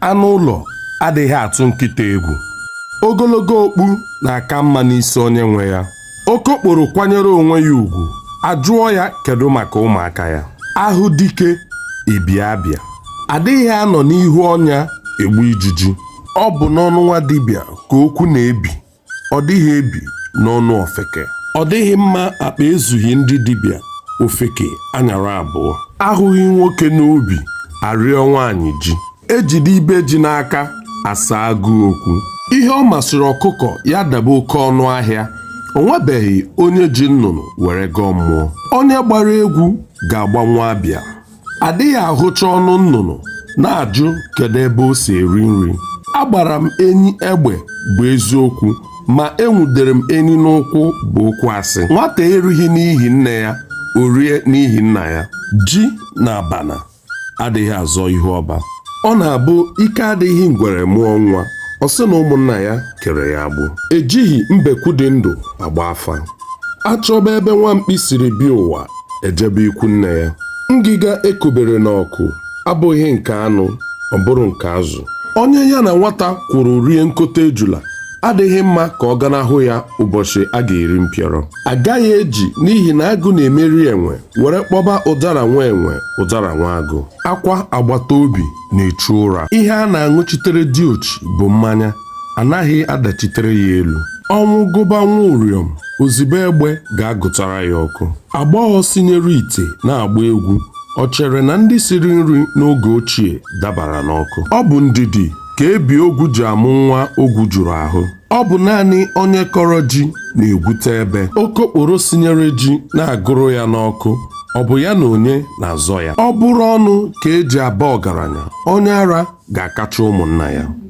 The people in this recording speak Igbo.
anụ ụlọ adịghị atụ nkịta egwu ogologo okpu na-aka mma n'isi onye nwe ya okokporo kwanyere onwe ya ugwu ajụọ ya kedu maka ụmụaka ya ahụ dike ebie abịa adịghị anọ n'ihu ọnya egbu ijiji ọ bụ n'ọnụ nwa dibịa ka okwu na-ebi ọ dịghị ebi n'ọnụ ofeke ọ dịghị mma akpa ezughị ndị dibịa ofeke anyara abụọ ahụghị nwoke n'ubi arịọ nwaanyị ji ejide ibe ji n'aka asa agụụ okwu ihe ọ masịrị ọkụkọ ya daba oke ọnụ ahịa o nwebeghị onye ji nnụnụ were gọọ mmụọ onye gbara egwu ga-agbanwe abịa adịghị ahụcha ọnụ nnụnụ na-ajụ kedu ebe o si eri nri agbara m enyi egbe bụ eziokwu ma enwudere m enyi n'ụkwụ bụ okwu asị nwata erighị n'ihi nne ya o rie n'ihi nna ya ji na abana adịghị azọ ihu ọba ọ na-abụ ike adịghị ngwere mụọ nwa ọ sị na ụmụnna ya kere ya agbụ ejighị mbekwu dị ndụ agba afa achọba ebe nwa mkpi siri bịa ụwa ejebe ikwu nne ya ngịga ekobere n'ọkụ abụghị nke anụ ọ bụrụ nke azụ onye ya na nwata kwụrụ rie nkota ejula adịghị mma ka ọ ganahụ ya ụbọchị a ga-eri mpịọrọ agaghị eji n'ihi na agụ na-emeri enwe were kpọba ụdara nwa enwe ụdara nwa agụ akwa agbata obi na-echu ụra ihe a na-aṅụchitere diochi bụ mmanya anaghị adachitere ya elu ọnwụ gụba nwa ụrịọm ozigbo egbe ga-agụtara ya ọkụ agbọghọ sinyere ite na-agba egwu o chere na ndị siri nri n'oge ochie dabara n'ọkụ ọ bụ ndidi ka ebi ogwu ji amụ nwa ogwu juru ahụ ọ bụ naanị onye kọrọ ji na-egwute ebe okokporo sinyere ji na-agụrụ ya n'ọkụ ọ bụ ya na onye na-azọ ya ọ bụrụ ọnụ ka eji aba ọgaranya onye ara ga-akacha ụmụnna ya